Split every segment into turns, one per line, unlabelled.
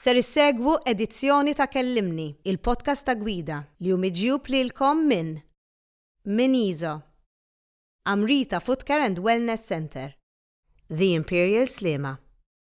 Ser issegwu edizzjoni ta' Kellimni, il-podcast ta' gwida, li hu miġjub lilkom minn Min Iso, Amrita Footcare and Wellness Centre, The Imperial Sliema,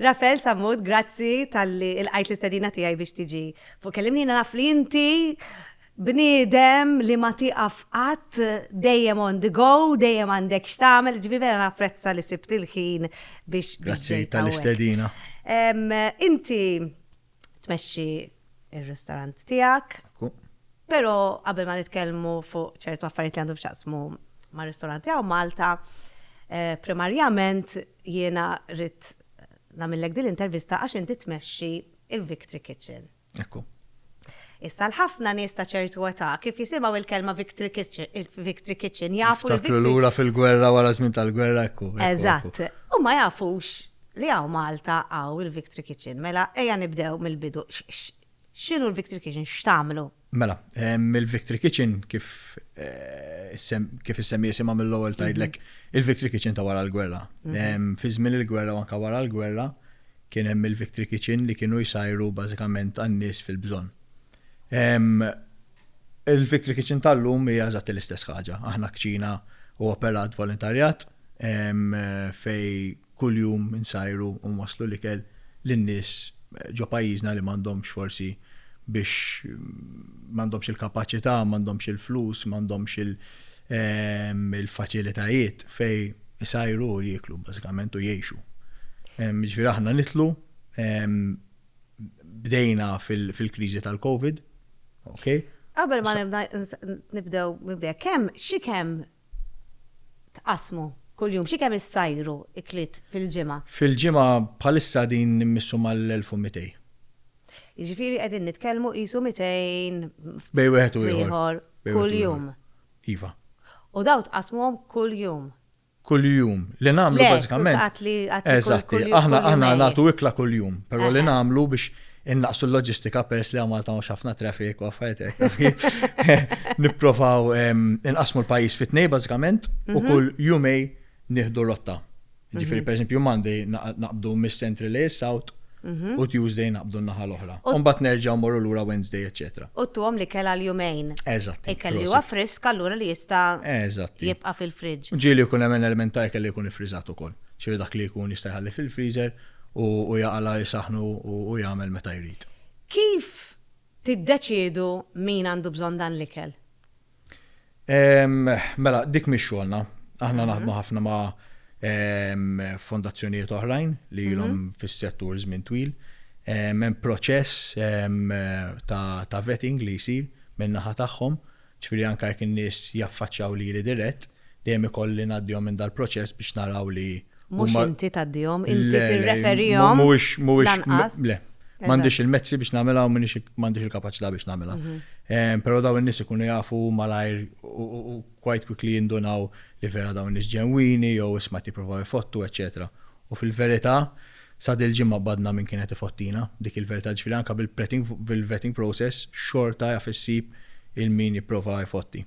Rafael Sammut, grazzi talli ilqajt l-istedina tiegħi biex tiġi fuq Kellimni. Jiena naf li inti bniedem li ma tieqaf qatt, dejjem on the go, dejjem għandek x'tagħmel, jiġifieri vera napprezza li sibt il-ħin biex ġejt hawnhekk. Grazzi tal-istedina. Inti tmexxi ir-ristorant tiegħek. Però qabel ma nitkellmu fuq ċertu affarijiet li għandhom x'jaqsmu ma' ristoranti għaw Malta, eh, primarjament jiena rrit namillek din l-intervista għax inti tmexxi il-Victory Kitchen. Ekku. Issa l-ħafna nies ta' ċertu età kif jisimgħu il-kelma Victory Kitchen, il-Victory Kitchen jafu l-Victory. lura fil-gwerra wara żmien tal-gwerra ekku. Eżatt. U ma jafux Li hawn Malta hawn il-Victory Kitchen. Mela ejja nibdew mill-bidu. X'inhu l-Victory Kitchen? X'tagħmlu? Mela, il-Victory Kitchen kif kif issemmi isimha mill-ewwel tgħidlek il-Victory Kitchen ta' wara l-gwerra. Fi żmien il-gwerra u anke wara l-gwerra kien hemm il-Victory Kitchen li kienu jsajru bażikament għan-nies fil-bżonn. Il-Victory Kitchen tal-lum hija eżatti l-istess ħaġa. Aħna kċina u operat volontarjat fej kuljum insajru u waslu l-ikel lin-nies ġo pajjiżna li m'għandhomx forsi biex m'għandhomx il-kapaċità, m'għandhomx il-flus, m'għandhomx il-faċilitajiet fej isajru u jieklu bażikament u jgħixu. Jiġifieri aħna nidħlu bdejna fil-kriżi tal-COVID. Okay? Qabel ma nibda nibdew nibdew kemm xi kemm tqasmu kuljum xi kemm issajru ikliet fil-ġimgħa? Fil-ġimgħa bħalissa din nimmissu mal-1200. Jiġifieri qegħdin nitkellmu qisu 200 bej wieħed u ieħor kuljum. Iva. U daw tqasmuhom kuljum. kuljum. Li nagħmlu bażikament. Eżatt, aħna aħna nagħtu ikla kuljum, però li nagħmlu biex innaqsu l-loġistika peress li Malta mhux ħafna traffic u affarijiet hekk. Nipprovaw inqasmu l-pajjiż fi tnej bażikament u kull jumej nieħdu rotta. Ġifieri pereżempju Monday naqbdu mis-Central South Mhm. U Tuesday naqbdu n-naħa l-oħra. U mbagħad nerġgħu morru lura Wednesday, eċċetera. U tuhom li kelha l-jumejn. Eżatt. Ikel li huwa frisk allura li jista' Eżatt. jibqa' fil-fridge. Ġieli jkun hemm element ta' ikel li jkun iffriżat ukoll. Ġifieri dak li jkun jista' jħalli fil-freezer u u jaqala' isaħħnu u u jagħmel meta jrid. Kif tiddeċiedu min għandu bżonn dan l-ikel? Mela, dik mhix xogħolna. Aħna naħdmu mhm. ħafna ma' fondazzjonijiet oħrajn li mhm. ilhom fis-settur żmien twil. Hemm proċess ta' vetting li jsir minn naħa tagħhom, ċifieri anke jekk in-nies jaffaċċjaw lili dirett, Dejjem ikolli ngħaddihom minn dal-proċess biex naraw li huma. Mhux inti tgħaddihom, inti tirreferihom lanqas. Le, m'għandix il-mezzi biex nagħmilha u m'għandix il-kapaċità biex nagħmilha. Però dawn in-nies ikunu jafu malajr u quite quickly jindunaw li vera dawn in-nies ġenwini jew isma' qed jippruvaw ifottu, eċċetera. U fil-verità, sa dil-ġimgħa b'għadna min kien qed ifottijna, dik il-verità. Ġifieri anke bil-vetting process xorta jaf issib il-min jipprova jfotti.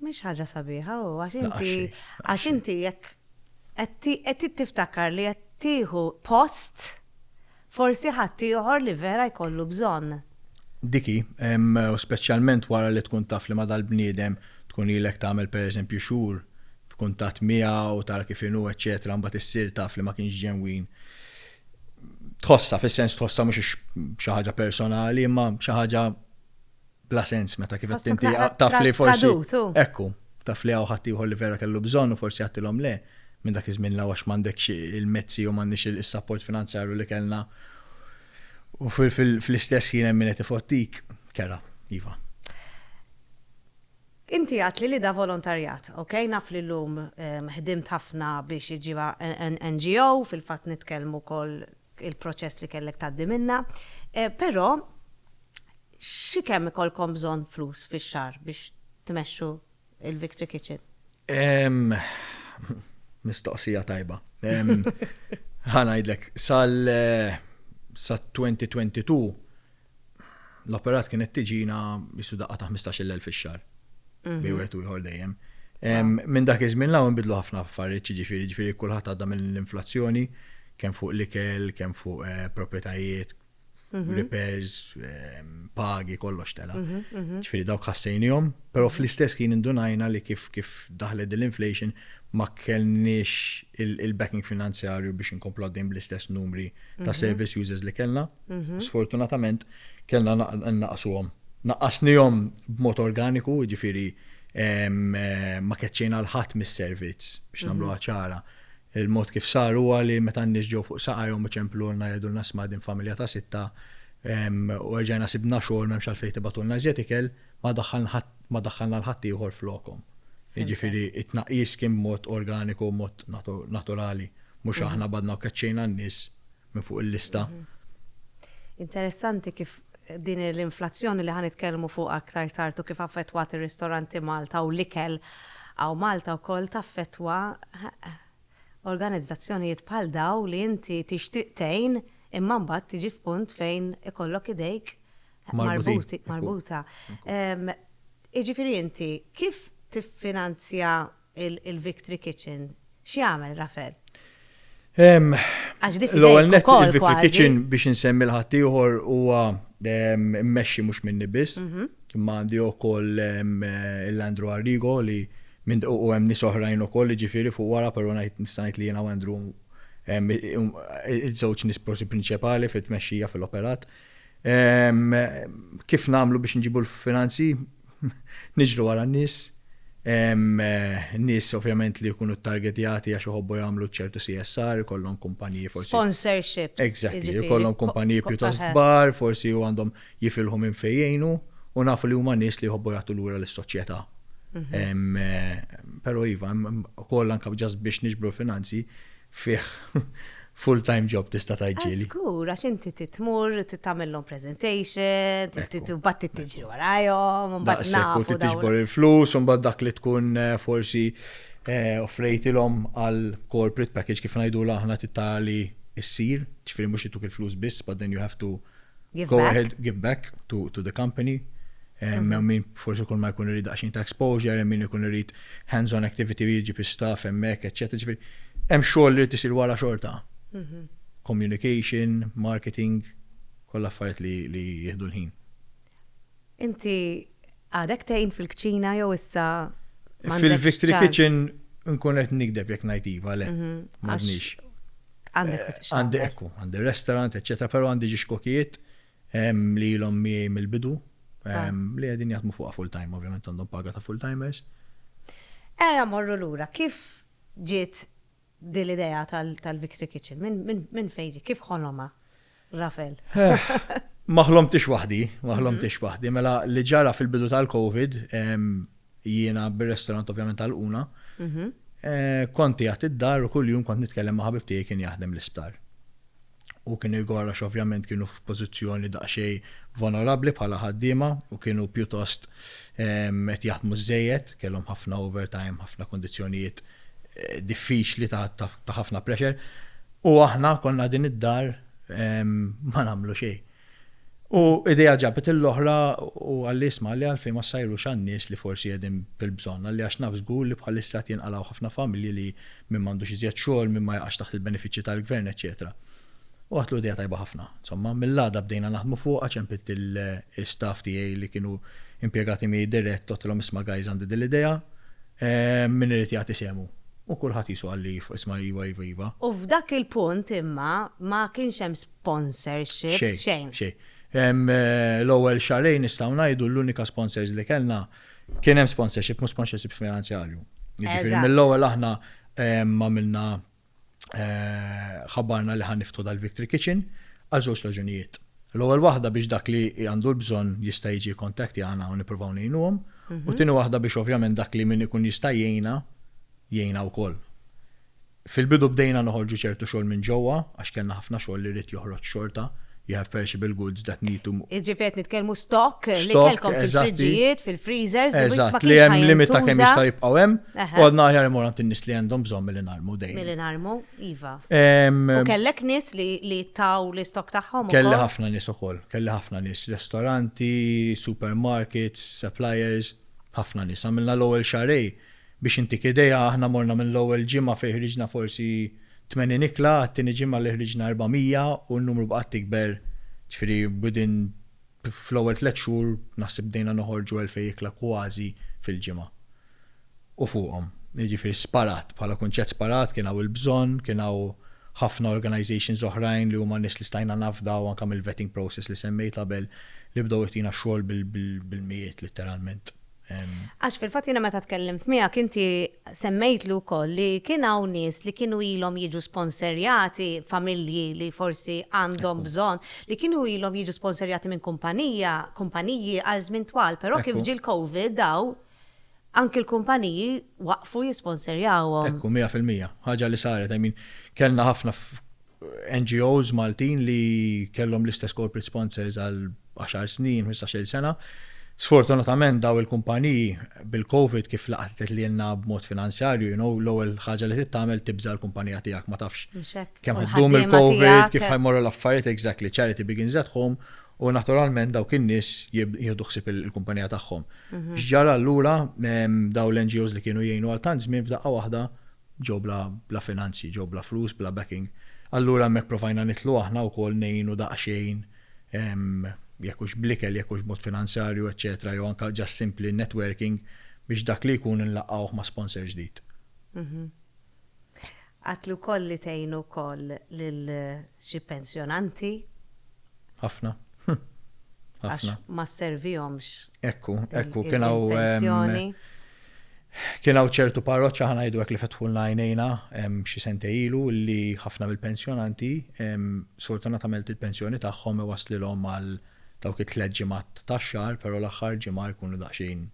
Mhix ħaġa sabiħa u għax inti għax inti jekk qed tiftakar li qed tieħu post forsi ħadd ieħor li vera jkollu bżonn. Diki, u speċjalment wara li tkun taf li ma dal-bniedem tkun ilek tagħmel pereżempju xhur b'kuntatt miegħu u tara kif inhu eċċetera mbagħad issir taf li ma kienx ġenwin. Tħossa, fis-sens tħossa mhux xi ħaġa personali, imma xi ħaġa bla sens meta kif qed inti taf li forsi. Ekku, taf li hawn ħadd ieħor li vera kellu bżonn u forsi għattilhom le minn dak iż-żmien l għax m'għandekx il-mezzi u m'għandniex is-sapport finanzjarju li kellna u fl-istess ħin hemm min qed ifottik, kera, iva. Inti għadt li da volontarjat, ok, naf li llum ħdimt ħafna biex iġġibha NGO, fil-fatt nitkellmu wkoll il-proċess li kellek tgħaddi minnha. Eh, però xi kemm ikolkom bżonn flus fix-xahar biex tmexxu il-Victory Kitchen? Mistoqsija tajba. Ħanajdlek, sal-2022 eh, l-operat kienet tiġina jissu daqqa ta' 15 il fix-xar. Mhm. Bej wieħed u ieħor dejjem. Minn dak iż-żmien law nbidlu ħafna affarijiet, ġifieri ġifieri kulħadd għadda mill-inflazzjoni kemm fuq l-ikel, kemm fuq eh, proprjetajiet, mhm. repairs, pagi, kollox tela. Mhm, ġifieri dawk ħassejnihom, però fl-istess kien indunajna li kif kif daħlet l-inflation ma kellniex il-backing finanzjarju biex inkomplu għaddejn bl-istess numri ta' service users li kellna. u sfortunatament kellna nnaqqsuhom. Naqqasnihom b'mod organiku, jiġifieri ma keċċejna 'l ħadd mis-servizz, biex nagħmluha ċara. Il-mod kif sar huwa li meta n-nies ġew fuq saqajhom u ċemplulna jgħidulna 'sma' din familja ta' sitta u erġajna sibna xogħol m'hemmx għalfejn tibagħtulna iżjed ikel, ma daħħalna 'l ħadd ieħor flokhom. Jiġifieri t-tnaqqis kien b'mod organiku, b'mod naturali, mhux aħna badna u keċċejna n-nies. minn fuq il-lista. Interessanti kif din l-inflazzjoni li ħa nitkellmu fuqha aktar tard u kif affettwat ir-ristoranti Malta u l-ikel hawn Malta wkoll taffettwa organizzazzjonijiet bħal dawn li inti tixtieq tgħin imma mbagħad tiġi f'punt fejn ikollok idejk marbuta. Jiġifieri inti kif tiffinanzja Il-Victory Kitchen, x'jagħmel Rafel? Għax di fidejk ukoll kważi. Il-Victory Kitchen biex insemmi l-ħaddieħor huwa mmexxi mhux minni biss, imma għandi ukoll il-Andrew Arrigo li u hemm nies oħrajn ukoll li ġifieri fuq wara però ngħid nista' ngħid li jiena u Andrew iż-żewġ nies prinċipali fit-tmexxija fil-operat. Kif nagħmlu biex nġibu l-finanzi? Niġru wara n-nies. Nies ovvjament li jkunu ttargetjati għax iħobbu jagħmlu ċertu CSR, ikollhom kumpaniji forsi. Sponsorships. Exactly, ikollhom kumpaniji pjuttost kbar, forsi u għandhom jifilħu minn fejn jgħinu u nafu li huma nies li jħobbu jagħtu lura lis-soċjetà. Però iva, ukoll anke ġast biex niġbru l-finanzi, fih full time job tista' tgħid ġieli. Żgur għax inti trid tmur, trid tagħmilhom presentation, trid imbagħad trid tiġri warajhom, imbagħad nafu. Daqshekk u trid tiġbor il-flus u mbagħad dak li tkun forsi offrejtilhom għal corporate package kif ngħidulha aħna trid tara li ssir, ġifieri mhux ituk il-flus biss but then you have to Give back. Go ahead, give back to, to the company. Hemm mm. min forsi kull ma jkun irid daqsxejn ta' exposure, hemm min ikun irid hands-on activity jiġi bi staff hemmhekk, eċetera. Ġifieri hemm xogħol li tisir wara xorta. Mm -hmm. Communication, marketing, kollha affarijiet li, li jieħdu l-ħin. Inti għadek tgħin fil-kċina jew issa m'għandekx Fil-Victory ċans? Kitchen nkun qed nikdeb jekk ngħid iva le. M'għadniex. Għandek wisq x'tagħmel. Għandi ekku, għandi restaurant, eċċetera, però għandi ġiex kokijiet em, li ilhom miegħi mill-bidu em, li qegħdin jaħdmu fuqha full time, ovvjament għandhom paga ta' full timers. Eja morru lura, kif ġiet Din l-idea tal-Victory Kitchen, minn fejn ġiet? Kif ħolomha Rafael? Ma ħlomtiex waħdi, ma ħlomtiex waħdi. Mela li ġara fil-bidu tal-Covid, jiena bir-restorant ovvjament għalquna, kont qiegħed id-dar u kuljum kont nitkellem ma' ħabib tiegħi kien jaħdem l-isptar. u kien igor għax ovvjament kienu f'pożizzjoni daqsxejn vonorabbli bħala ħaddiema u kienu pjuttost qed jaħdmu żżejjed, kellhom ħafna overtime, ħafna kundizzjonijiet diffiċli ta' ħafna pressure u aħna konna din id-dar ma nagħmlu xejn. U idea ġabet l-oħra u qalli isma' li għalfejn ma ssajrux għan-nies li forsi qegħdin bil-bżonn, qalli għax naf żgur li bħalissa qed jinqalgħu ħafna familji li min m'għandux iżjed xogħol, min ma jaqax taħt il-benefiċċji tal-gvern eċċetera. U għadtlu idea tajba ħafna. Insomma, mill-għada bdejna naħdmu fuqha, ċempidt l-istaff tiegħi li kienu impjegati miegħi dirett għedtilhom isma' guys għandi din l-idea, min irid jagħti sehmu? U kulħadd qisu qalli isma' iva, iva, iva. U f'dak il-punt imma ma kienx hemm sponsorships, Xejn, xejn. xejn. Hemm eh, l-ewwel xahrejn nistgħu ngħidu l-unika sponsors li kellna kien hemm sponsorship, mhux sponsorship finanzjarju. Jiġifieri Eżatt. mill-ewwel aħna em, għamilna eh, ħabbarna li ħan niftu dal-Victory Kitchen għal żewġ raġunijiet. L-ewwel waħda biex dak li għandu l-bżonn jista' jiġi kontakti għana u nippruvaw ngħinuhom, u tieni waħda biex ovvjament dak li min ikun jista' jgħinna jgħinna wkoll. Fil-bidu bdejna noħorġu ċertu xogħol minn ġewwa għax kellna ħafna xogħol li ried joħroġ xorta, you have perishable goods that need to. Jiġifieri qed nitkellmu stock li kellkom fil-friġġijiet, fil-freezers, li ma kienx ħajintuża. Eżatt, li hemm limit ta' kemm jistgħu jibqgħu hemm, u għadna aħjar immorru għand in-nies li għandhom bżonn milli narmu dejjem. Milli narmu, iva. U kellek nies li taw l-istock tagħhom ukoll? Kelli ħafna nies ukoll, kelli ħafna nies, ristoranti, supermarkets, suppliers, ħafna nies. Għamilna l-ewwel xarej. Biex intik idea, aħna morna mill-ewwel ġimgħa fejn ħriġna forsi 80 ikla, għat-tieni ġimgħa li ħriġna 400 u n-numru baqgħet tikber, ġifieri within fl-ewwel tliet xhur naħseb bdejna noħorġu elfej ikla kważi fil-ġimgħa u fuqhom. Jiġifieri sparat, bħala kunċett sparat, kien hawn il-bżonn, kien hawn ħafna organisations oħrajn li huma nies li stajna nafdaw anke mill-vetting process li semmejt qabel li bdew jtina x-xogħol bil-mijiet litteralment. Għax fil-fatt jiena meta tkellimt miegħek inti semmejtlu wkoll li kien hawn nies li kienu ilhom jiġu sponserjati, familji li forsi għandhom bżonn, li kienu ilhom jiġu sponserjati minn kumpanija, kumpaniji għal żmien twal, però kif ġie l-Covid dawn anki l-kumpaniji waqfu jisponserjawhom. Ekku, mija fil-mija. Ħaġa li saret, I mean, kellna ħafna NGOs Maltin li kellhom l-istess corporate sponsors għal għaxar snin, ħmistax-il sena. Sfortunatament dawn il-kumpaniji bil-Covid kif laqtet lilna b'mod finanzjarju, you know, l-ewwel ħaġa li trid tagħmel tibża' l-kumpanija tiegħek ma tafx kemm ħa ddum il-Covid, kif ħa jmorru l-affarijiet, exactly, charity begins at home, u naturalment dawk in-nies jieħdu ħsieb il-kumpanija tagħhom. X'ġara allura, dawn l-NGOs li kienu jgħinu għal tant żmien f'daqqa waħda ġew bla bla finanzji, ġew bla flus, bla backing. Allura hemmhekk provajna nidħlu aħna wkoll ngħinu daqsxejn jekk hux bl-ikel, jekk hux b'mod finanzjarju, eċċetera jew anke just simply networking biex dak li jkun inlaqgħuh ma' sponsor ġdid. Għadt li wkoll li tgħinu wkoll lil Xi pensjonanti. Ħafna. Għax ma sservihomx. Ekku, ekku, kien hawn. Pensjoni. Kien hawn ċertu parroċċa ħana jgħidu hekk li fetħulna għajnejna xi sente ilu li ħafna mill-pensjonanti sfortunatament il-pensjoni tagħhom iwasslilhom għal dawk it-tliet ġimgħat tax-xahar, però l-aħħar ġimgħa jkunu daqsxejn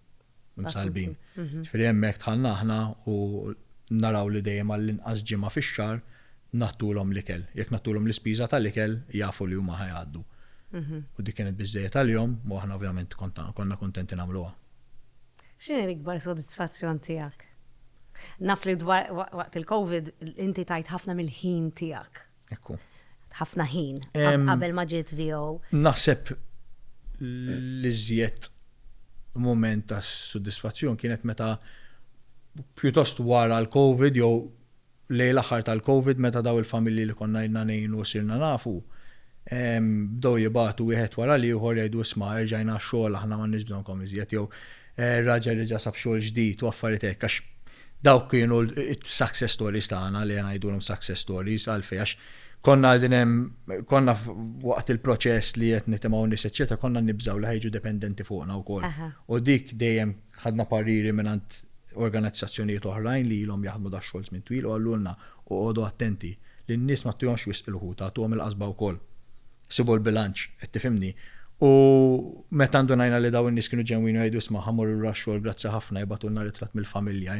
msalbin. Mhm. Ġifieri hemmhekk tħallna aħna u naraw li dejjem għall-inqas ġimgħa fix-xahar nagħtulhom l-ikel. Jekk nagħtulhom l-ispiża tal-ikel jafu li huma ħajgħaddu. Mhm. U dik kienet biżżejjed għalihom u aħna ovvjament konna kuntenti nagħmluha. X'inhi l-ikbar sodisfazzjon tiegħek? Naf li dwar waqt il-COVID inti tajt ħafna mill-ħin tiegħek. Ekku. Ħafna ħin qabel ma ġiet VO. Naħseb li żjed moment ta' soddisfazzjon kienet meta pjuttost wara l-Covid jew lej l-aħħar tal-Covid meta daw il-familji li konna jidna ngħinu sirna nafu bdew jibatu wieħed wara l-ieħor jgħidu isma' erġajna xogħol aħna m'għandniex bżonnkom iżjed jew Raġel li ġa sab xogħol ġdid u affarijiet hekk għax dawk kienu s-success stories tagħna li ngħidulhom success stories għalfejn għax konna qegħdin hemm konna waqt il-proċess li qed nitimgħu nies eċċetera konna nibżgħu li ħejġu dependenti fuqna wkoll. U dik dejjem ħadna pariri mingħand organizzazzjonijiet oħrajn li ilhom jaħdmu da xogħol żmien twil u qalulna oqogħdu attenti lin-nies ma ttuhomx wisq il-ħuta, tuhom il-qasba wkoll. sibu l-bilanċ, qed tifhimni. U meta ndunajna li dawn in-nies kienu ġenwini u jgħidu isma' ħa mmorru lura x-xogħol grazzi ħafna jibgħatulna ritratt mill-familja,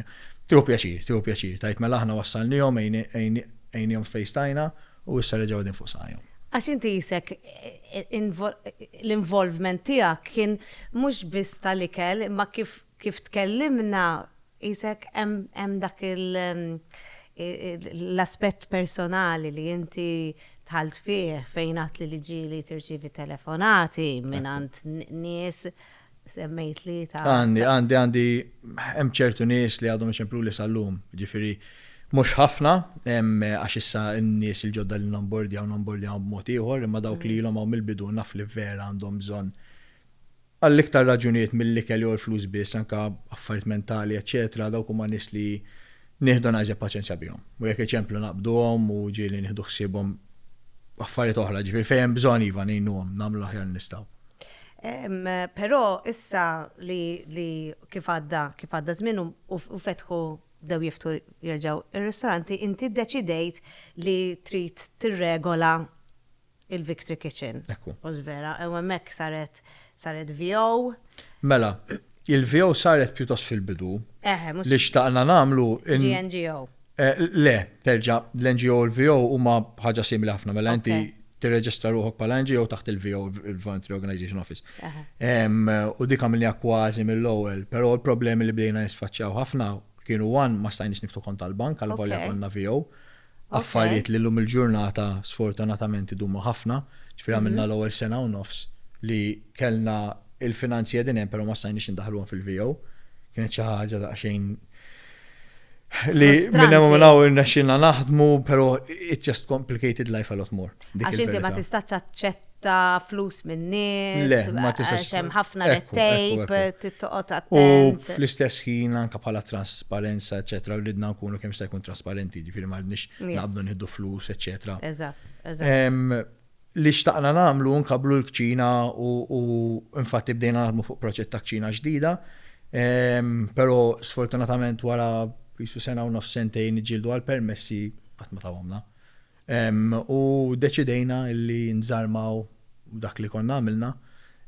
tieħu pjaċir, tieħu pjaċir tgħid mela aħna wassalniehom għejniehom fejn stajna u issa reġgħu qegħdin fuq saqajhom. Għax inti qisek l-involvement tiegħek kien mhux biss tal-ikel imma kif Kif tkellimna, qisek hemm dak l-aspett personali li inti dħalt fih fejn għedt li l-ġieli tirċievi telefonati mingħand nies, semmejtli ta'. Għandi, għandi, għandi, hemm ċertu nies li għadhom iċempluli sal-lum, jiġifieri mhux ħafna, għax issa n-nies il-ġodda li nonbordjaw nonbordjawhom b'mod ieħor, imma dawk li ilhom hawn mill-bidu naf li vera għandhom bżonn Għal iktar raġunijiet mill-ikel jew il-flus biss, anke affarijiet mentali, eċċetera, dawk huma nies li nieħdu naqsja paċenzja bihom. U jekk iċemplu naqbduhom u ġieli nieħdu ħsiebhom affarijiet oħra, jiġifieri fejn hemm bżonn iva ngħinuhom, nagħmlu l-aħjar li nistgħu. Però issa li li kif għadda kif għadda żmien u u fetħu bdew jiftħu jerġgħu r-ristoranti, inti ddeċidejt li trid tirregola il-Victory Kitchen. Ekku. U l-vera, u hemmhekk saret saret VO. Mela, il-VO saret pjuttost fil-bidu. Eħe, mhux. Li xtaqna nagħmlu. GNGO. Le, terġa' l-NGO u l-VO huma ħaġa simili ħafna, mela inti tirreġistra ruħok bħala NGO taħt il-VO, il-Voluntary Organization Office. U dik għamilniha kważi mill-ewwel, però l-problemi li bdejna nisfaċċjaw ħafna kienu one ma stajniex niftu kont tal-bank għal volja konna VO. Affarijiet li llum il-ġurnata sfortunatament idumu ħafna. Ġifieri għamilna l-ewwel sena u nofs li kellna l-finanzi qegħdin hemm però ma stajniex indaħħluhom fil-VO. Kienet xi ħaġa daqsxejn li minn hemm u minn hawn irnexxielna naħdmu, però it just complicated life a lot more. Għax inti ma tistax ta' flus minn nies, għax hemm ħafna red tape, tittoqgħod attent. U fl-istess ħin anke bħala trasparenza, eċetera, ridna nkunu kemm jista' jkun trasparenti, ġifieri ma rridniex naqbdu nieħdu flus, eċetera. Eżatt, eżatt. Li xtaqna nagħmlu nkabblu l-kċina u infatti bdejna naħdmu fuq proġett ta' kċina ġdida, però sfortunatament wara qisu sena u nofs sentejn niġġieldu għall-permessi qatt ma tawhomlna. U deċidejna li nżarmaw dak li konna għamilna.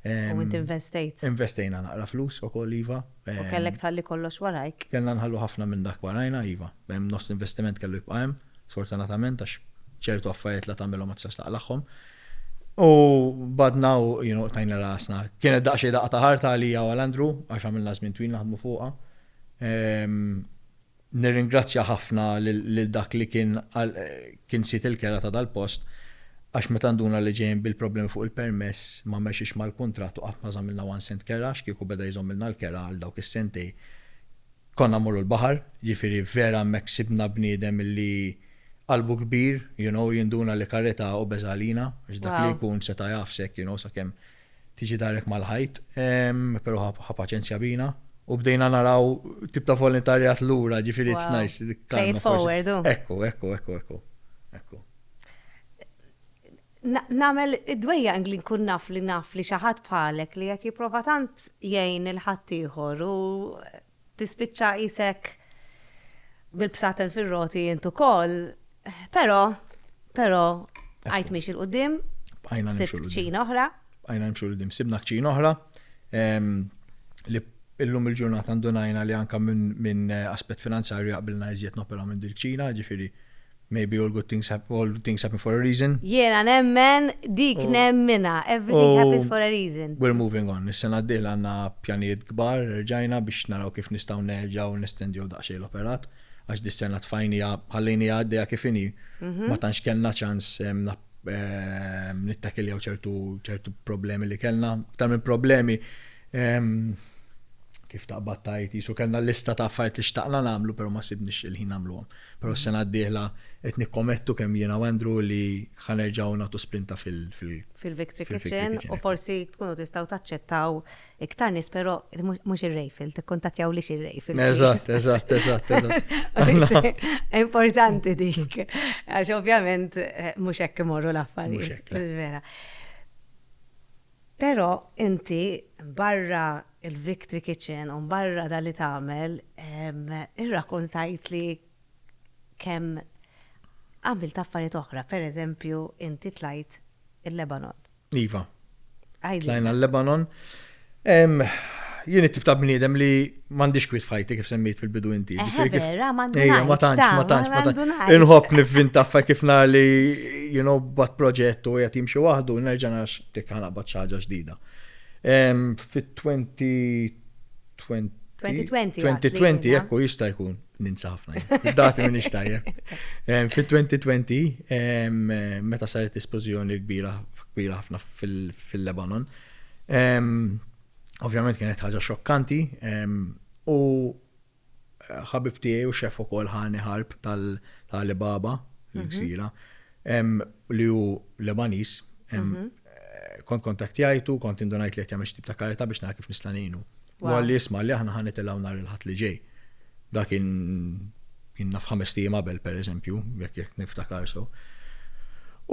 U int investejt. Investejna naqra flus ukoll, iva. U kellek tħalli kollox warajk. Kellna nħallu ħafna minn dak warajna, iva. Nofs l-investiment kellu jibqa' hemm, sfortunatament, għax ċertu affarijiet la tagħmilhom ma tistax taqlagħhom. U bagħadna u tajna rasna. Kienet daqsxejn daqqa ta' ħarta għalija u għal Andrew għax għamilna żmien twil naħdmu fuqha. Nirringrazzja ħafna lil dak li kien kien sid il-kera ta' dal-post għax meta nduna li ġejjin bil-problemi fuq il-permess ma mexiex mal-kuntratt u qatt ma żammilna one cent kera għax kieku beda jżommilna l-kera għal dawk is-sentej konna mmorru l-baħar jiġifieri vera hemmhekk sibna bniedem li qalbu kbir you know jinduna li karità obeża għalina għax dak li jkun seta' jagħfsek you know sakemm Tiġi darek mal-ħajt, pero ħa paċenzja bina. U bdejna naraw tip ta' volontarjat lura, ġifieri it's nice. Fejn forward. Ekku, ekku, ekku, ekku. Ekku. Namel id-dwejja li nkun naf li naf li xi ħadd bħalek li qed jipprova tant jgħin il-ħaddieħor u Tispiċċa qisek bil-bsaten fir-roti int ukoll, però, però, għajt miex il-qudiem, sibt kċina oħra. Għajna nimxu l-qudiem, sibna kċina oħra li illum il-ġurnata ndunajna li anka minn aspett finanzjarju jaqbilna iżjed nopera minn dil-kċina, ġifiri Maybe all good things hap, all good things happen for a reason. Jiena nemmen dik nemminha, everything happens for a reason. U we're moving on. Is-sena d-dieħla għandna pjanijiet kbar, rġajna biex naraw kif nistgħu nerġgħu nestendiew daqsxejn l-operat, għax dis-sena tfajniha, ħallejniha għaddejja kif inhi, ma tantx kellna ċans nittakiljaw ċertu, ċertu problemi li kellna. Aktar minn problemi, kif taqbad tgħid, qisu kellna lista ta' affarijiet li xtaqna nagħmlu, però ma sibniex il-ħin nagħmluhom. Però s-sena d-dieħla qed nikkomettu kemm jiena u Andrew li ħa nerġgħu nagħtu sprinta fil-. Fil-Victory Kitchen u forsi tkunu tistgħu taċċettaw iktar nies però mhux ir-Rejfil, tikkuntattjawlix ir-Rejfil. Eżatt, eżatt, eżatt, eżatt. Importanti dik, għax ovvjament eh, mhux hekk imorru l-affarijiet. Mhux hekk. Vera. Però inti barra l-victory kitchen u barra dak li tagħmel, irrakuntajtli kemm għamilt affarijiet oħra. Per eżempju, inti tlajt il-Lebanon. Iva. Għidli. Tlajna l-Lebanon. Jien it-tip ta' bniedem li M'għandix kwiet f'ħajti kif semmejt fil-bidu inti. Eħe, vera, m'għandux. Ejja, ma tantx, ma tantx, ma tantx. Inħobb nivvinta f'hekk kif nar li, you know, bat proġett u qed jimxi waħdu, nerġa' narax dik ħanaqbad xi ħaġa ġdida. Fit-2020 2020, ekku jista' jkun ninsa ħafna. Dati minn ixtajja. Fit-2020, meta saret esplużjoni kbira kbira ħafna fil-Lebanon, Ovvjament kienet ħaġa xokkanti u ħabib tiegħi u xef ukoll ħani ħarb tal-Alibaba, l-ksira, mhm. li hu Lebanis, mhm. eh, kont kontaktjajtu, kont indunajt li qed jagħmel tip ta' karita biex nara kif nista' ngħinu. U għalli jisma' li aħna ħanitilgħu nhar il-ħadd li ġej. Da kien kien naf ħames tim qabel pereżempju, jekk jekk niftakar so.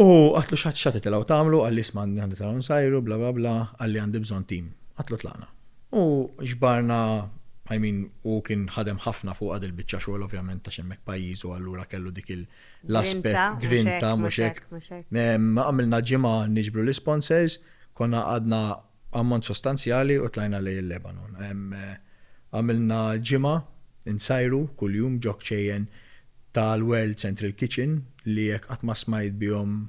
U għatlu xatt xatt titilgħu tagħmlu, għalli isma' għandi tagħmlu nsajru, bla bla bla, għalli għandi bżonn tim. Għatlu tlaqna. U ġbarna, I mean, u kien ħadem ħafna fuqha dil-biċċa xogħol ovvjament ta' xemmek pajjiżu allura kellu dik l-aspett grinta mhux hekk. Għamilna ġimgħa niġbru l-isponsors, konna għadna ammont sostanzjali u tlajna lejn il-Lebanon. Hemm għamilna ġimgħa nsajru kuljum ġo kċejjen tal-World Central Kitchen li jekk qatt ma smajt bihom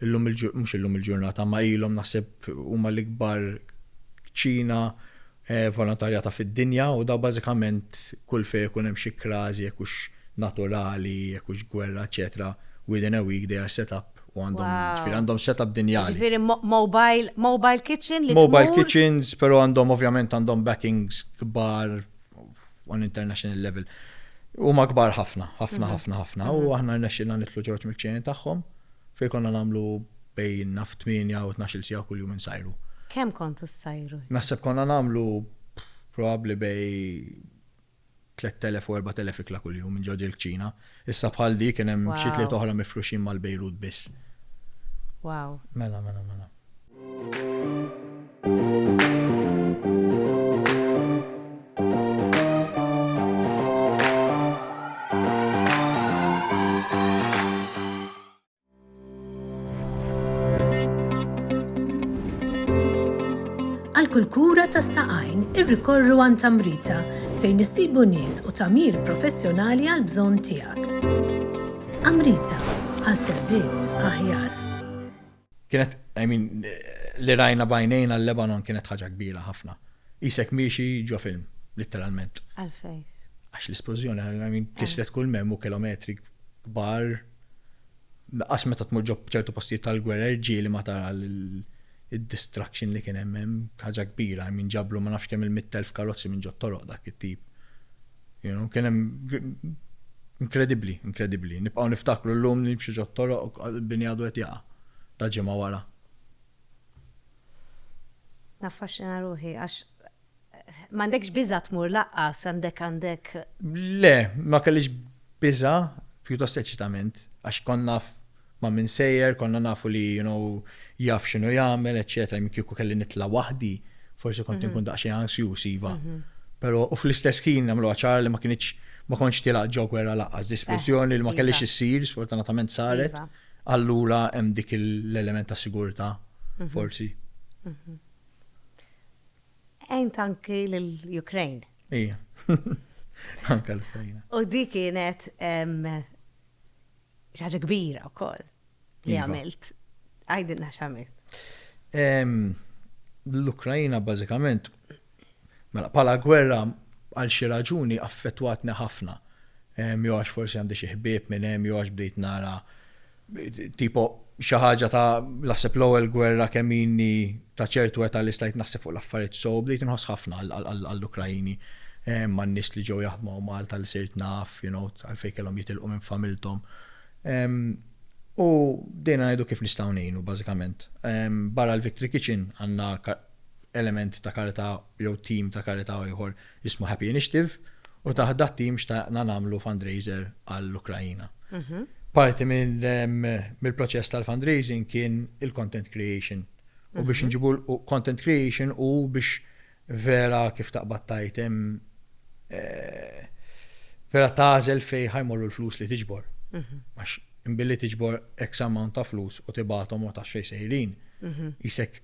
illum il-ġurnata, mhux illum il-ġurnata, imma ilhom naħseb huma l-ikbar kċina volontarjata fid-dinja u dawn bażikament kull fejn ikun hemm xi krażi jekk hux naturali, jekk hux gwerra, eċċetera, within a week they are set up. U għandhom, ġifieri għandhom setup din jali. Ġifieri mobile, mobile kitchen li tmur. Mobile kitchens, però għandhom ovvjament għandhom backings kbar on international level. Huma kbar ħafna, ħafna, ħafna, ħafna. U aħna rnexxilna nitlu ġorġ mill-ċejn tagħhom fejn konna nagħmlu bejn naf 8 u 12 sija kuljum insajru. Kemm kontu ssajru? Naħseb konna nagħmlu probabbli bej tliet elef u erbat elef ikla kuljum minn ġo di l-kċina. Issa bħal di kien hemm xi tliet oħra mifruxin mal-Bejrut biss. Wow. Mela, mela, mela. Għal kull kura tas-saqajn irrikorru għand Amrita fejn issibu nies u tagħmir professjonali għal bżonn tiegħek. Amrita għal servizz aħjar. Kienet, I mean, li rajna bajnejna l-Lebanon kienet ħaġa kbira ħafna. Isek miexi ġo film, literalment. Għalfejn. Għax l-esplużjoni, I mean, kislet kull mem u kilometri kbar. As meta tmur ġob ċertu postijiet tal-gwerra irġieli ma tara l-destruction li kien hemm hemm ħaġa kbira hemm inġabru ma nafx kemm il-mitt elf karozzi minn ġo toroq dak it-tip. You know, kien hemm inkredibbli, inkredibbli. Nibqgħu niftakru llum li nimxu ġo toroq bini għadu qed jaqa' ta' ġimgħa wara. Naffaxxina ruħi għax M'għandekx biża' tmur laqqas, għandek għandek. Le, ma kellix biża', pjuttost eċitament, għax kont naf ma' min sejjer, konna nafu li you know jaf x'inhu jagħmel, eċċetera, jien kieku kelli nitla' waħdi, forsi kont inkun daqsxejn ansjuż iva. Però u fl-istess ħin nagħmluha ċara li ma kinitx ma kontx tilgħaq ġo gwerra laqqas, displużjoni li ma kellix issir, sfortunatament saret, allura hemm dik l-element ta' sigurtà, forsi. Għajnt anki l-Ukraine. Ija, anka l-Ukrajna. U di kienet xaġa kbira u koll li iva. għamilt. Għajdinna xamil. L-Ukrajna bazzikament, mela, pala gwerra għal xi raġuni affettwatni ħafna. Jew għax forsi għandi xi ħbieb minn hemm, jew għax bdejt nara Tipo xi ħaġa ta' naħseb l-ewwel gwerra kemm inni ta' ċertu età li stajt naħseb fuq l-affarijiet sew, bdejt inħoss ħafna għall-Ukraini, man-nies li ġew jaħdmu hawn Malta li sirt naf, you know, għalfejn kellhom jitilqu minn familthom. U bdejna ngħidu kif nistgħu ngħinu bażikament. Barra l-Victory Kitchen għandna element ta' karità jew tim ta' karità ieħor jismu Happy Initiative u taħt dat tim xtaqna nagħmlu fundraiser għall-Ukrajina. Mhm. Parti mill-proċess tal-fundraising kien il-content creation. U mhm. biex nġibu l-content creation u biex vera kif taqbad tajtem eh, vera tażel fej ħajmorru l-flus li tiġbor. Mhm. Għax imbilli tiġbor X amount ta' flus u tibatom u ta' xej sejrin. Isek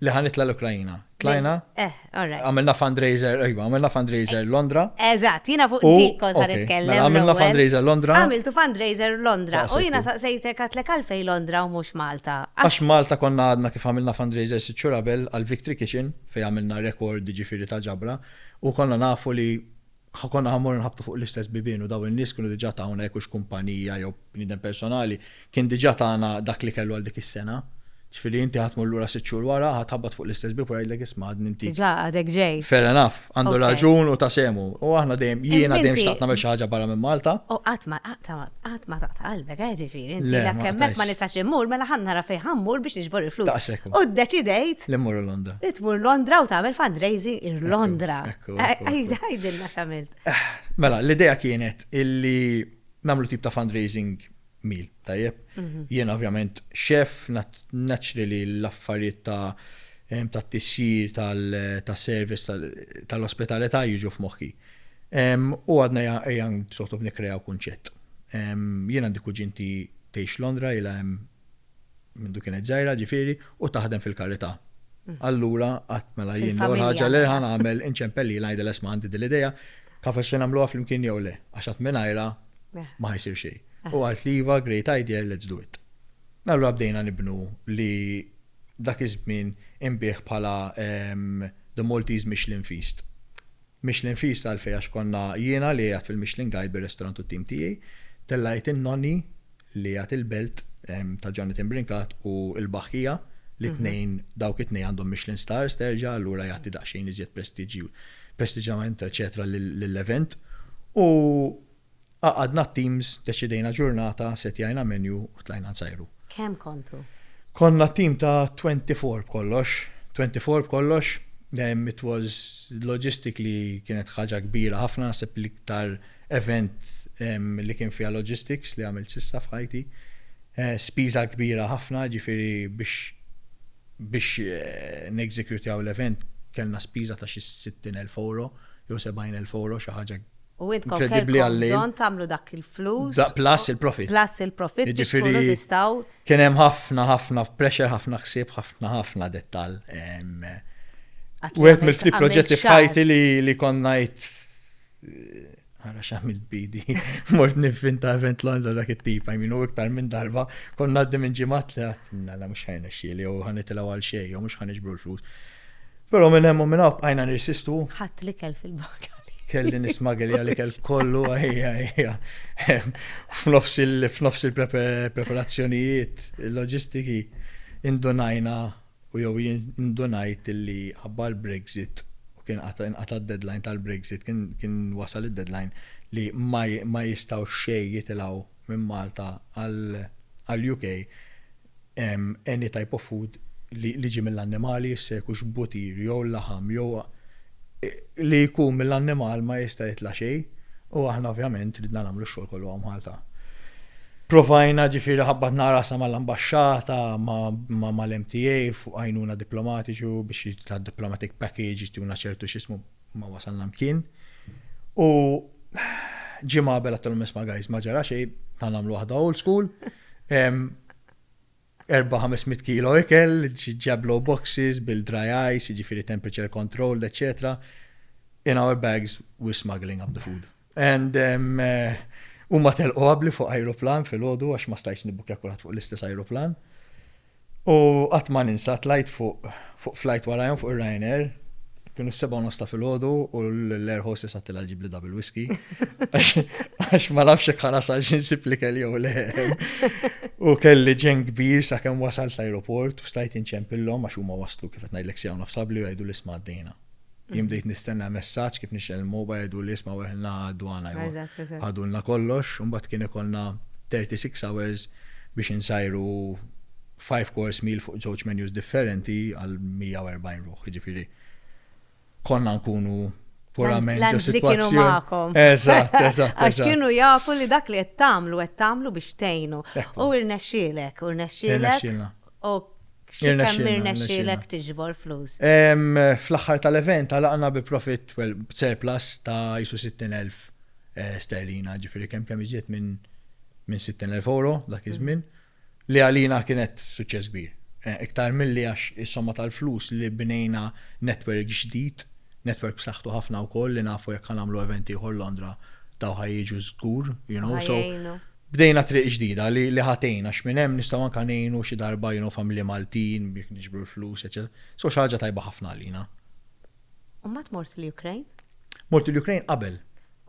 Li ħa nitla' l-Ukraina. Tlajna? Eh, all right. Għamilna fundraiser, ejwa, għamilna fundraiser eh, Londra. Eżatt, jiena fuq dik kont ħa nitkellem. Mela, għamilna fundraiser Londra. Għamiltu fundraiser Londra. U jiena saqsejtek għatlek għalfej Londra u mhux Malta. Għax Malta konna għadna kif għamilna fundraiser sitt xhur qabel għal Victory Kitchen fejn għamilna rekord ġifieri ta' ġabra u konna nafu li Konna ħa mmorru nħabbtu fuq l-istess bibien u dawn in-nies kienu diġà tawna jekk hux kumpanija jew bniedem personali, kien diġà tana dak li kellu għal dik is-sena. Ġifieri inti ħa tmur lura sitt xhur wara, ħa tħabbat fuq l-istess bieb u jgħidlek isma' għadni inti. Diġà għadek ġej. Fair enough, għandu raġun u ta' sehmu. U aħna dejjem, jiena dejjem xtaqt nagħmel xi ħaġa barra minn Malta. U qatt ma qatt ma taqta' qalbek, eh, ġifieri inti jekk hemmhekk ma nistax immur mela ħa nara fejn ħa mmur biex niġbor il-flus. Daqshekk hu. U ddeċidejt. Li mmur Londra. Li tmur Londra u tagħmel fundraising ir-Londra. Għajdilna xamilt. Mela, l-ideja kienet illi namlu tip ta' fundraising mil, tajjeb. Mhm. Jien ovvjament xef, naċri li l-affarijiet ta' ta' tissir tal-service tal-ospitalità jiġu f'moħħi. U għadna jgħan sottob nikrejaw kunċett. Jien għandi kuġinti tgħix Londra, jgħan mindu kienet żgħira ġifieri, u taħdem fil-karità. Allura qatt mela jien l-ewwel ħaġa li ħa nagħmel inċempel lilha ngħidilha isma' għandi din l-idea, taf se nagħmluha flimkien jew le, għax qatt mingħajrha ma ħa jsir xejn. U qalt li iva, great idea, let's do it. Allura bdejna nibnu li dak iż-żmien inbiegħ bħala The Maltese Michelin Feast. Michelin Fish Salfie għax konna jiena li qiegħed fil-Michelin Guide bir-restaurant u t-tim tiegħi. Tellgħet in-nonni li qiegħed il-belt ta' Jonathan Brincat u l-Baħħija li t-tnejn dawk it-tnejn għandhom Michelin Stars terġa' allura jagħti daqsxejn iżjed prestiġġju prestiġġjament eċċetera lill-event u Għaqadna t-teams, deċidejna ġurnata, setjajna menu u tlajna nsajru. Kemm kontu? Konna team ta' twenty four b'kollox. Twenty four b'kollox. It was logistically kienet ħaġa kbira ħafna, naħseb l-iktar event li kien fiha logistics li għamilt s'issa f'ħajti. Spiża kbira ħafna, jiġifieri biex biex neżekjutjaw l-event kellna spiża ta' xi sittin elf ewro jew sebgħin elf ewro, xi ħaġa U intkom Inkredibbli kellkom għall-lejl. bżonn tagħmlu dak il-flus. Da plus il-profit. Plus il-profit biex Jiġifieri- tkunu tistgħu Kien hemm ħafna ħafna pressure, ħafna ħsieb, ħafna ħafna dettall. Em, Għad li Wieħed għamilt- mill-ftit għamilt proġetti xahar. f'ħajti li li konna jt Għara xamil bidi, mort nifin ta' event Londra dak it-tip, I mean, u iktar minn darba, konna għaddi minn ġimat li għatna la mux ħajna xieli, u ħanitilaw għal xej, u mux ħanġbru l-flus. Però minn hemm u minn hawn bqajna nirsistu. Ħadd l-ikel fil-bagali. Kelli nismagel għal ikel kollu għajja għajja. F'nofs il-preparazzjonijiet, il-loġistiki, indunajna u jew jien indunajt illi ħabba l-Brexit u kien inqata' d-deadline tal-Brexit, kien wasal id-deadline li ma jistgħux xejn jitilgħu minn Malta għall-UK, any type of food li ġie mill-annimali, jista' jkux buttir jew laħam jew li jkun mill-annimal ma jista' jitla' xejn u aħna ovvjament ridna nagħmlu x-xogħol kollu hawn Malta. Provajna ġifieri ħabbatna rasna mal-ambaxxata ma' mal-MTA fuq għajnuna diplomatiċi u biex tad-diplomatic package jtuna ċertu x'ismu ma wasalna mkien. U ġimgħa qabel għattilhom nisma' guys ma ġara xejn, ta' nagħmlu waħda old school. 4-500 kilo ikel, ġablu boxes bil-dry ice, ġifiri temperature controlled, etc. In our bags, we're smuggling up the food. And huma telqu qabli fuq ajruplan filgħodu għax ma stajtx nibbukja kulħadd fuq l-istess ajruplan. U qatt ma ninsa tlajt fuq fuq flight warajhom fuq ir-Ryanair kienu s-seba' u nosta filgħodu u l-air hostess għattila ġibli double whisky. Għax ma nafx jekk ħanasal xi nsib li kelli jew le. U kelli ġen kbir sakemm wasalt l-ajruport u stajt inċempillhom għax huma waslu kif qed ngħidlek sija u nofs qabli u jgħidu l-isma' għaddejna. Jien bdejt nistenna messaġġ kif nixgħel il-mobile jgħidu li isma' weħilna għad-dwana jew ħadulna kollox, imbagħad kien ikollna 36 hours biex insajru five course meal fuq żewġ menus differenti għal 140 ruħ, jiġifieri konna nkunu purament ġo sitwazzjoni. Eżatt, eżatt. Għax kienu jafu li dak li qed tagħmlu qed tagħmlu biex tgħinu. U rnexxielek, u rnexxielek. Ok, x'kemm irnexxielek tiġbor flus? Fl-aħħar tal-event għalaqna bi profit, well, surplus ta' jisu 60,000 eh, sterlina, ġifieri kemm kemm iżjed minn minn 60,000 euro dak iż-żmien, li għalina kienet suċċess kbir. Eh, iktar milli għax is-somma tal-flus li bnejna netwerk ġdid, netwerk b'saħħtu ħafna wkoll li nafu jekk ħanamlu event ieħor Londra daw ħajjiġu żgur, you know, so. Bdejna triq ġdida li li ħa tgħin għax minn hemm nistgħu anke ngħinu xi darba you know familji Maltin biex niġbru l-flus eċċetera. So xi ħaġa tajba ħafna għalina. U mbagħad mort l-Ukraine? Mort l-Ukraine qabel.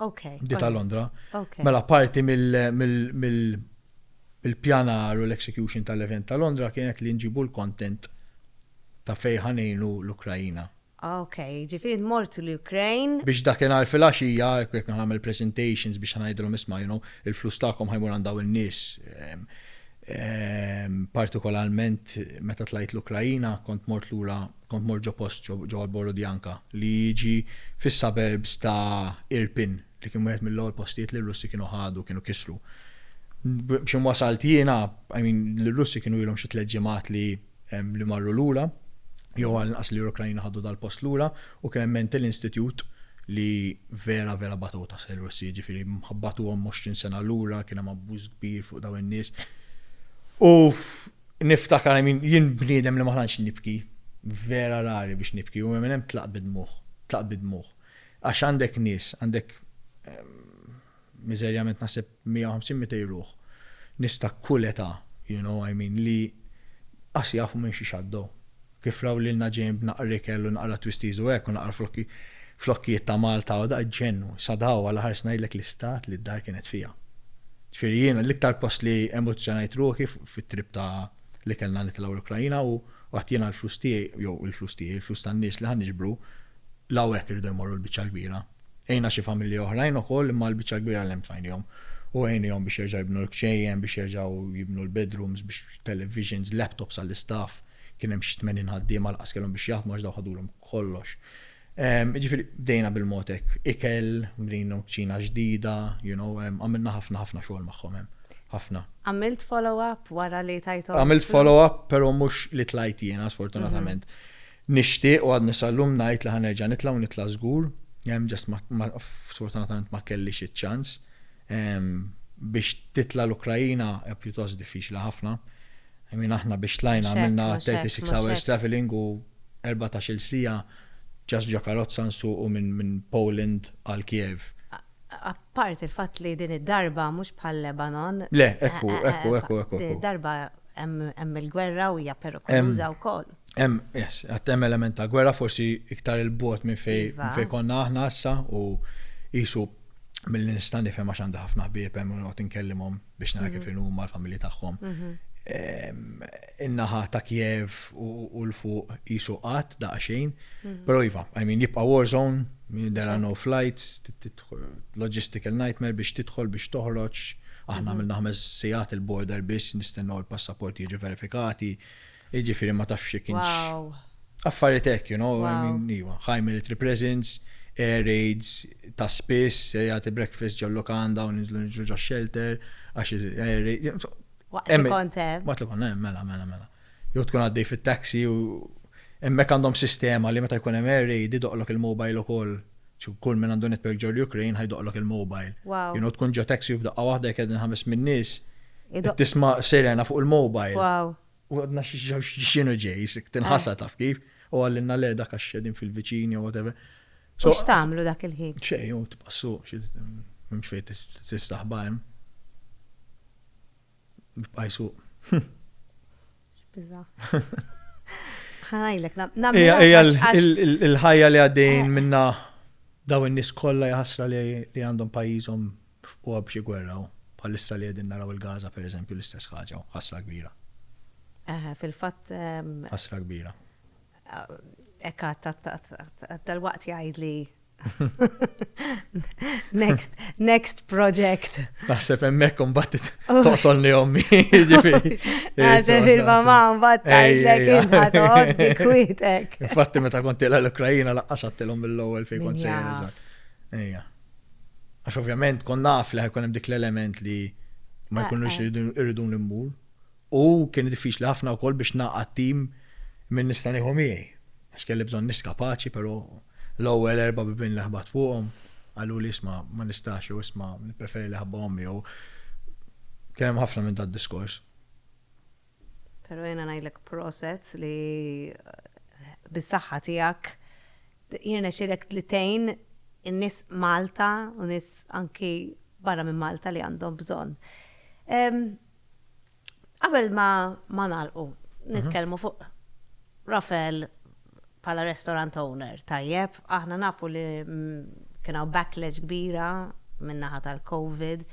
Ok. Bdiet għal Londra. Ok. Mela parti mill mill il-pjanar u l-execution tal-event ta' Londra kienet li nġibu l-content ta' fejn ħa ngħinu l-Ukraina. Ah ok, jiġifieri mort l-Ukraine. Biex dakinhar filgħaxija jekk ħa nagħmel presentations biex ħa ngħidilhom isma' you know il-flus tagħkom ħa jmur għand dawn in-nies. Partikolarment meta tlajt l-Ukraina kont mort lura kont mort ġo post ġewwa Borodyanka li jiġi fis-suburbs ta' Irpin li kien wieħed mill-ewwel postijiet li r-Russi kienu ħadu kienu kisru. B'xi wasalt jiena, I mean l-Russi kienu ilhom xi tliet ġimgħat li li marru lura, jew għall-inqas li Ukrajna ħadu dal-post lura, u kien hemm mental institute li vera vera batgħu taħt ir-Russi, jiġifieri ħabbatuhom 20 sena lura, kien hemm abbuż kbir fuq dawn in-nies. U niftakar għamin, jien bniedem li ma ħanx nibki, vera rari biex nibki, u minn hemm tlaq bidmuħ, tlaq bidmuħ. Għax għandek nies, għandek miżerjament naħseb 150, 200 ruħ, nies ta' kull età, you know, I mean, li qas jafu minn xiex għaddew. Kif raw lilna ġejjin b'naqra ikel u naqra twisties u hekk u naqra flokki, flokkijiet ta' Malta u daqq ġennu. Sadaw għal aħar se ngħidlek l-istat li d-dar kienet fiha. Ġifieri jiena l-iktar post li emozzjonajt ruħi fit-trip ta' li kellna nitilgħu l-Ukraina u għedt jiena l-flus tiegħi, jew il-flus tiegħi, il-flus tan-nies li ħa niġbru, l-hawn hekk irridu jmorru l-biċċa l-kbira. Għinna xi familji oħrajn ukoll imma l-biċċa l-kbira l-hemm tfajnihom u għinihom biex jerġgħu jibnu l-kċejjen, biex jerġgħu jibnu l-bedrooms, biex televisions, laptops għall-istaff, kien hemm xi tmenin ħaddiema lanqas kellhom biex jaħdmu għax dawn ħadulhom kollox. Jiġifieri bdejna bil-mod hekk. Ikel, bnejna kċina ġdida, you know, għamilna ħafna ħafna xogħol magħhom hemm. Ħafna. Għamilt follow-up wara li tajthom il-flus? Għamilt follow-up però mhux li tlajt jiena sfortunatament. Nixtieq u għadni sal-lum ngħid li ħa nerġa' nitla' u nitla' żgur, just ma sfortunatament ma kellix iċ-ċans. Biex titla' l-Ukraina hija pjuttost diffiċli ħafna. I mean aħna biex tlajna għamilna 36 hours travelling u erbatax-il siegħa just ġo karozza nsuqu minn Poland għal Kiev. Apart il-fatt li din id-darba mhux bħal Lebanon. Le, hekk hu, hekk hu, hekk hu, hekk hu. Din id-darba hemm il-gwerra u hija perikoluża wkoll. Hemm, yes, għat hemm element ta' gwerra forsi iktar il-bot minn fej Iva. minn fej konna aħna issa u jisu mill nista' nifhem għax għandha ħafna ħbieb hemm u noqgħod inkellimhom biex nara kif inhu huma l-familji tagħhom. Em, In-naħa ta' Kiev u u l-fuq jisu qatt daqsxejn, però iva, I mean jibqa' war zone, there are no flights, trid tidħol logistical nightmare biex tidħol biex toħroġ, aħna għamilna ħames sigħat il-border biss nistennew il-passaporti jiġu verifikati, Jiġifieri ma tafx jekk kienx. Wow. Affarijiet hekk, you know, I mean, iwa. High military presence, air raids, ta' spiss, jagħti breakfast ġol-lukanda u ninżlu niġru ġax-xelter, għax air raids. Waqt li kont hemm. Waqt li kont hemm, mela, mela, mela. Jew tkun għaddej fit-taxi u hemmhekk għandhom sistema li meta jkun hemm air raid idoqlok il-mobile ukoll. Kull min għandu network ġol-Ukraine ħa jdoqlok il-mobile. Wow. You know, tkun ġo taxi u f'daqqa waħda jekk qegħdin ħames min nies, tisma' sirena fuq il-mobile. Wow. U għadna xinu ġej, sik tinħasa eh. taf kif, u għallinna le dak għax xedin fil-viċini u whatever. So x'tagħmlu dak il-ħin? Xej, u tbassu, mhux fejn tistaħba hemm. Bqajsu. Biża. Ħajlek, il-ħajja li għaddejn eh. minna daw in-nies kollha jaħasra li għandhom pajjiżhom F'qwa b'xi gwerra u bħalissa li qegħdin naraw il-Gaza per eżempju l-istess ħaġa u ħasra kbira. Eħe, fil-fatt. Ħasra kbira. Hekk għadt għadt għadt għadt għadd dalwaqt jgħidli next, next project. Naħseb hemmhekk imbagħad toqtolni ommi. Naħseb il-mama mbagħad tgħidlek int ħadod kwietek. Infatti meta kont tilha l-Ukrajina laqqas għattilhom mill-ewwel fejn kont sejjer eżatt. Ejja. Għax ovvjament kon naf li ħajkun hemm dik l-element li ma eh, jkunux eh. irridu l-immur. U kien diffiċli ħafna wkoll biex naqgħad tim minn nista' nieħu miegħi. Għax kelli bżonn nis kapaċi, però l-ewwel erba' bibin li ħbat fuqhom għallu li isma' ma nistax jew isma' nippreferi li ħabba ommi jew kien hemm ħafna minn dad diskors. Pero jiena ngħidlek proset li bis-saħħa tiegħek jirnexxielek li tgħin in-nies Malta u nies anki barra minn Malta li għandhom bżonn. Qabel ma nagħlqu, nitkellmu fuq Rafael bħala restaurant owner tajjeb, aħna nafu li kien hawn backlash kbira min-naħa tal-Covid.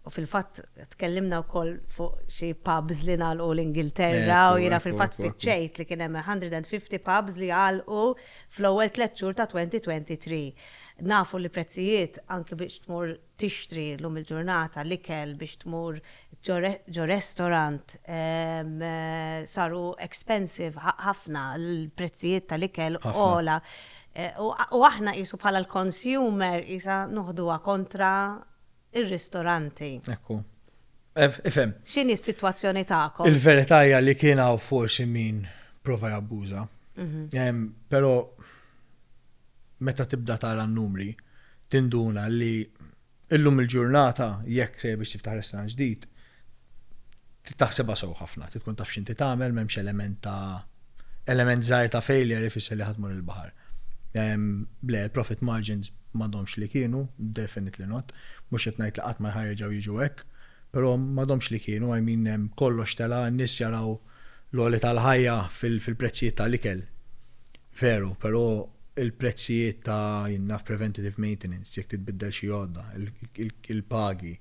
U fil-fatt tkellimna wkoll fuq xi pubs li nagħlqu l-Ingilterra u jiena fil-fatt fiċċejt li kien hemm 150 pubs li għalqu fl-ewwel tliet xhur ta' 2023. Nafu li prezzijiet anke biex tmur tixtri llum il-ġurnata l-ikel biex tmur ġo restorant saru expensive ħafna, l-prezzijiet tal-ikel ogħla. U aħna qisu bħala l-consumer qisha noħduha kontra r-ristoranti. Ekku. Ifhem. X'inhi s-sitwazzjoni tagħkom? Il-verità hija li kien hawn forsi min prova jabbuża. Però meta tibda tara n-numri tinduna li llum il-ġurnata jekk sejjer biex tiftaħ restaurant ġdid trid taħsibha sew ħafna, trid tkun taf x'inti tagħmel, m'hemmx element ta' element żgħir ta' failure ifisser li ħa tmur il-baħar. Le, il-profit margins m'għadhomx li kienu, definitely not, mhux qed ngħid li qatt ma ħa jerġgħu jiġu hekk, però m'għadhomx li kienu, I mean kollox tela', n-nies jaraw, l-għoli tal-ħajja fil-prezzijiet tal-ikel, veru, però il-prezzijiet ta' jien naf preventative maintenance, jekk titbiddel xi għodda, il-pagi,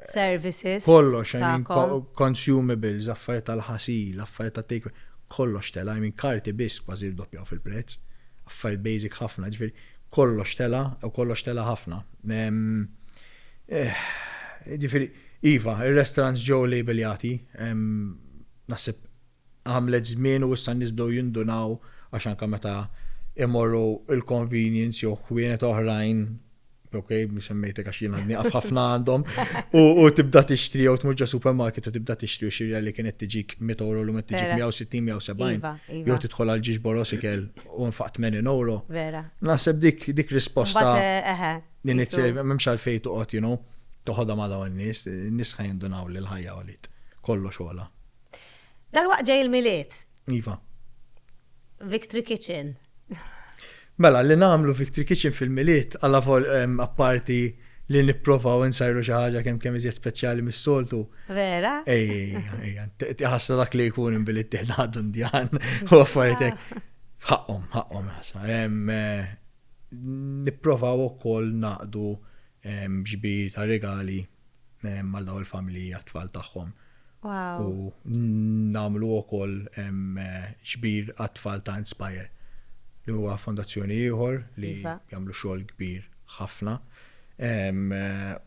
services, kollox, I mean, consumables, affarijiet tal-ħasil, affarijiet ta' take, kollox tela', I mean, karti biss kważi rdoppjaw fil-prezz, affarijiet basic ħafna, ġifieri kollox tela' u kollox tela' ħafna. Ġifieri, Iva, ir-restaurants ġew labelljati, naħseb għamlet żmien u issa n-nies bdew jindunaw għax anke meta imorru l-convenience jew ħwienet oħrajn, ok, mhux semmejtek għax jiena nieqaf ħafna għandhom, u tibda tixtri jew tmur ġo supermarket u tibda tixtri u xirja li kienet tiġik 100 euro l-lum qed tiġik 160 jew 70. Iva, iva. Jew tidħol għal ġiex borosikel u nfaq 80 euro. Vera. Naħseb dik dik risposta. Mbagħad, eħe. Din it m'hemmx għalfejn toqgħod, you know, toħodha ma' dawn nies, nies ħa jindunaw li l-ħajja għoliet. Kollox għola. Dal-waqt ġej il-milied. Iva. Victory Kitchen. Mela, li nagħmlu Victory Kitchen fil-milied, għalla vol apparti li nipprovaw insajru xi ħaġa kemm kemm iżjed speċjali mis-soltu. Vera? Ej, ej, ħassa dak li jkun imbilit tiħdadun djan u affaritek. Ħaqqom, ħaqqom ħassa. Eh, nipprovaw ukoll ngħaqdu ġbir ta' rigali għal dawn il-familji għat-tfal tagħhom. Wow. U nagħmlu wkoll ġbir għat-tfal ta' Inspire li huwa fondazzjoni ieħor li iva. jagħmlu xogħol kbir ħafna.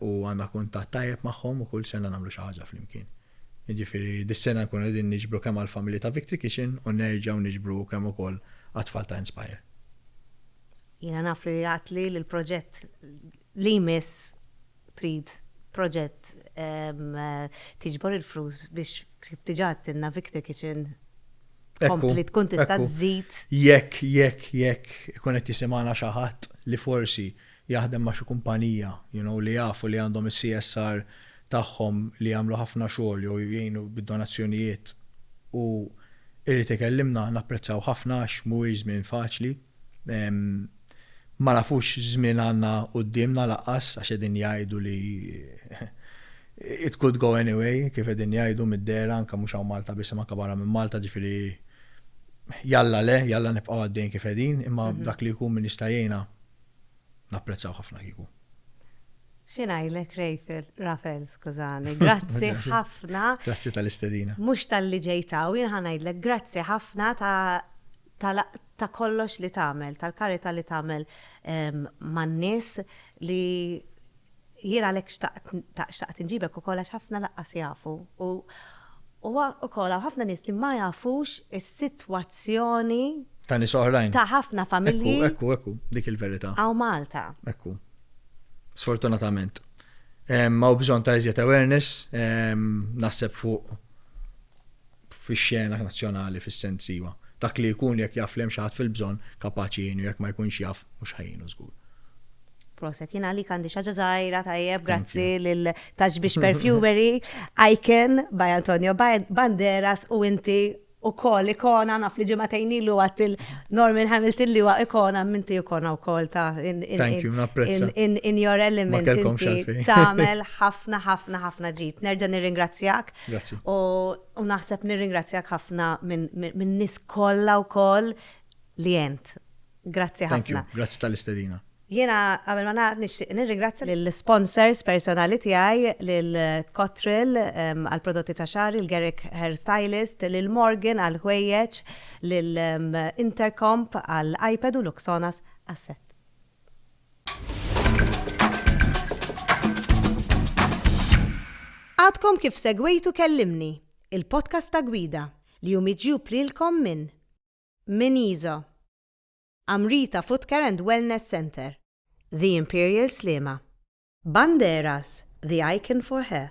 U għandna kuntatt tajjeb magħhom u kull sena nagħmlu xi ħaġa flimkien. Jiġifieri dis-sena nkunu qegħdin niġbru kemm għall-familji ta' Victory Kitchen u nerġgħu niġbru u kemm ukoll għat-tfal ta' Inspire. Jiena naf li għedtli li l-proġett li jmiss trid proġett tiġbor il-flus biex kif diġà għedtilna Victory Kitchen tkompli tkun tista' żżid. Jekk, jekk, jekk ikun qed jisimgħana xi ħadd li forsi jaħdem ma' xi kumpanija you know li jaf u li għandhom is-CSR tagħhom li jagħmlu ħafna xogħol jew jgħinu bid-donazzjonijiet u jrid ikellimna napprezzaw ħafna għax mhuwiex żmien faċli ma nafux x'żmien għandna quddiemna laqqas għax qegħdin jgħidu li it could go any way kif qegħdin jgħidu mid-dehra anke mhux hawn Malta biss imma anke barra minn Malta ġifieri jalla le jalla nibqgħu għaddejjin kif qegħdin imma dak li jkun min jista' jgħinna Napprezzaw ħafna kieku. Xi ngħidlek Rejfil, Rafel skużani, grazzi ħafna. Grazzi tal-istedina. Mhux talli ġejt hawn, jien ħa ngħidlek grazzi ħafna ta' kollox li tagħmel, tal-karità li tagħmel man-nies li Jien għalhekk xtaqt inġibek ukoll għax ħafna lanqas jafu u huwa wkoll hawn ħafna nies li ma jafux is-sitwazzjoni Ta' nies oħrajn. ta' ħafna familji. Ekku, ekku, ekku, dik il-verità. Hawn Malta. Ekku. Sfortunatament. Hawn bżonn ta' iżjed awareness, naħseb fuq fix-xena nazzjonali fis-sens iva. Dak li jkun jekk jaf li hemm xi ħadd fil-bżonn kapaċi jgħinu jekk ma jkunx jaf mhux ħa jgħinu żgur. Proset, jien għalik għandi xi ħaġa żgħira tajjeb grazzi lil Tax Biex Perfumery, Icon by Antonio Banderas u inti ukoll ikona naf li ġimagħtejn ilu għadt il-Norman Hamilton li huwa ikona minti ikona wkoll ta' in, in, Thank you, napprezza. in, in, in your element Ma kellkomx inti għalfejn. tagħmel ħafna ħafna ħafna ġid. Nerġa' nirringrazzjak Grazzi. U naħseb nirringrazzjak ħafna minn nies kollha wkoll li għent. Grazzi ħafna. Grazzi tal-istedina. Jiena qabel ma nagħlaq nixtieq nirringrazzja lill-sponsors personali tiegħi, lil Cotril għall-prodotti ta' xagħar, lil Garrick Hair Stylist, lil Morgan għall-ħwejjeġ, lil Intercomp għall-iPad u Luxonas għas-sett. Għadkom kif segwejtu Kellimni, il-podcast ta' gwida li hu miġjub lilkom minn minn Iżo, Amrita Food Care and Wellness Centre, The Imperial Sliema, Banderas, The Icon for Her,